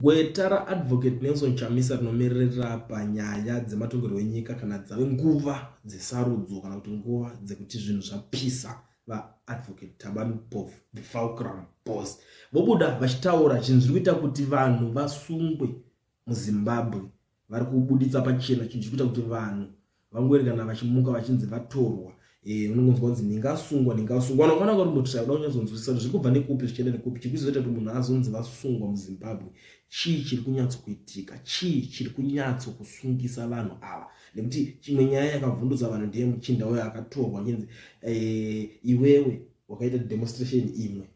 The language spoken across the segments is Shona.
Gweta raAdvocate Nelson Chamisa rinomiririra panyaya dzematongerwo enyika kana dzave nguva dzesarudzo kana kuti nguva dzekuti zvinhu zvapisa vaadvocate Thabani Mpofu the Fulcrum Boss vobuda vachitaura zvinhu zviri kuita kuti vanhu vasungwe muZimbabwe vari kubuditsa pachena chinhu chiri kuita kuti vanhu vangoerekana vachimuka vachinzi vatorwa eh, unongonzwa kunzi ndingasungwa ndingasungwa kana ukaona kuti mutisha kuda kunyatsoonzwisisa kuti zviri kubva nekupi zvichienda nekupi chiri kuzoita kuti munhu azonzi vasungwa muzimbabwe chii chiri kunyatsokuitika chii chiri kunyatso kusungisa vanhu ava nekuti chimwe nyaya yakavhundutsa vanhu ndiye muchinda uyo akatorwa chinzi eh, iwewe wakaita demonstration imwe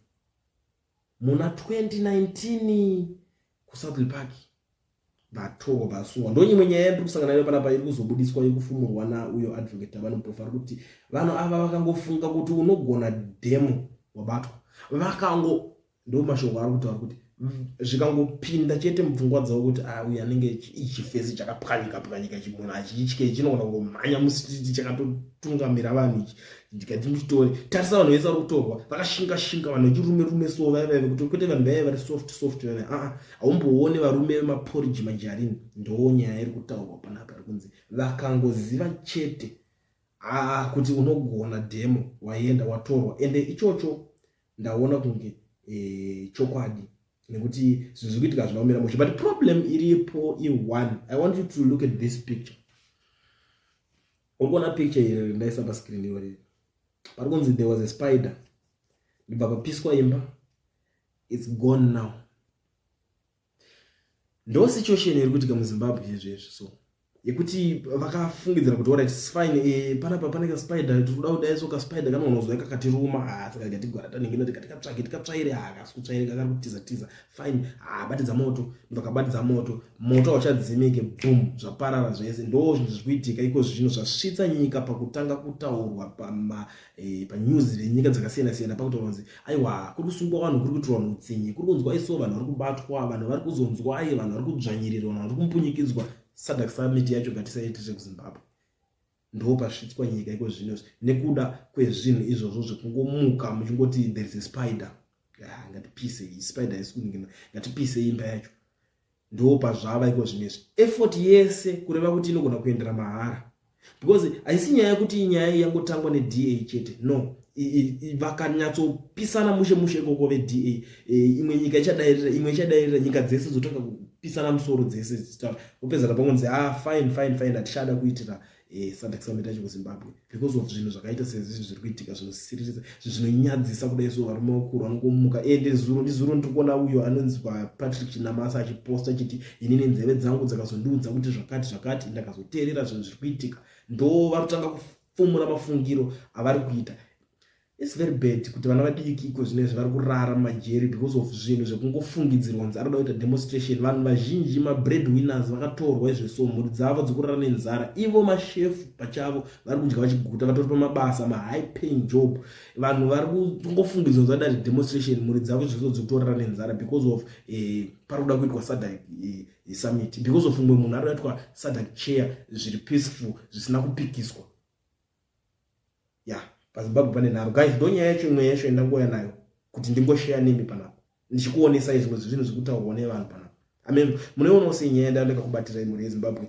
muna 2019 kusouthly park vatoko vasungwa ndonyimwe nyaya yandiri kusangana nayo panapa iri kuzobudiswa yekufumurwa nauyo advocate avane muprofa ari kuti vanhu ava vakangofunga kuti unogona demo wabatwa vakango ndo mashoko ari kutaura kuti zvikangopinda chete mupfungwa dzavo kuti ah, uyu anenge ichifesi chakapwanyika pwanyika chimunhu achitye chinogona kungomhanya musititi chakatotungamira vanhu ichi ndikati nditore tarisa vanhu vese vari kutorwa vakashinga shinga vanhu vechirume rume so vaya vaive kuti kwete vanhu vaive vari soft soft vana aa haumboone varume vemaporiji majarini ndoo nyaya iri kutaurwa panapa iri kunzi vakangoziva chete aa kuti unogona demo waienda watorwa ende ichocho ndaona kunge e, chokwadi nekuti zvinhu zviri kuitika hazvina kumira mushe but problem iripo i1 i want you to look at this picture uri kuona picture here rindaisa pascreen iyorei pari kunzi there was a spider ndibva papiswa imba its gone now ndo situation iri kuitika muzimbabwe izvezvi so yekuti vakafungidzira kuti orit fine e, eh, panapa pane kaspider tikuda kudaiso kaspider kanoonozwa kakati ruma ah, saka katigwara tanenge nati katikatsvake tikatsvaire ah, kasi kutsvaire kakari kutiza tiza fine ah, batidza moto mnhu akabatidza moto moto hauchadzimike boom zvaparara zvese ndo zvinhu zviri kuitika iko zvino zvasvitsa nyika pakutanga kutaurwa eh, panews e, venyika dzakasiyana siyana pakutoronzi aiwa kuri kusungwa vanhu kuri kutirwa nutsinye kuri kunzwa iso vanhu vari kubatwa vanhu vari kuzonzwa aye vanhu vari kudzvanyirirwa vanhu vari kumpunyikidzwa sadak summit yacho gatisaitire kuzimbabwe ndo pasvitswa nyika iko zvino nekuda kwezvinhu izvozvo zvekungomuka muchingoti there is a spider ah, ngatipise iyi spider yesikuningina ngatipise imba yacho ndo pazvava iko zvino izvi effort yese kureva kuti inogona kuendera mahara because haisi nyaya yekuti inyaya yangotangwa neda chete no vakanyatsopisana mushe mushe ikoko veda e, imwe nyika ichadairira imwe ichadairira nyika dzese dzotanga kupisana musoro dzese dzichitaura vopedza kapangonzi a ah, fine fine fine hatichada kuitira e, sadc summit yacho kuzimbabwe because of zvinhu zvakaita sezvizvi zviri kuitika zvinosiririsa zvinonyadzisa kudai so varume vakuru vanokomuka ende zuro ndizuro ndiri kuona uyo anonzi papatrick chinamasa achiposta chiti inini nzeve dzangu dzakazondiudza kuti zvakati zvakati ndakazoteerera zvinhu zviri kuitika ndo varotanga fumura mafungiro avari kuita its very bad kuti vana vadiki iko zvino izvi vari kurara mumajeri because of zvinhu zvekungofungidzirwa kunzi ari kuda kuita demonstration vanhu vazhinji mabread winners vakatorwa izveso mhuri dzavo dzokurara nenzara ivo mashefu pachavo vari kudya vachiguta vatori pamabasa mahigh paying job vanhu vari kungofungidzwa kunzi vada demonstration mhuri dzavo izveso dzotorara nenzara because of eh, pari kuda kuitwa sadha eh, yesummit because of mumwe munhu ari kuitwa sadc chair zviri peaceful zvisina kupikiswa ya yeah. pazimbabwe pane nharo guys ndo nyaya yacho imwe yacho yandangouya nayo kuti ndingosheya nemi panapo ndichikuonesai zvimwe zvinhu zviri kutaurwa nevanhu panapo amen munoionawo sei nyaya yandaoneka kubatira imhuri yezimbabwe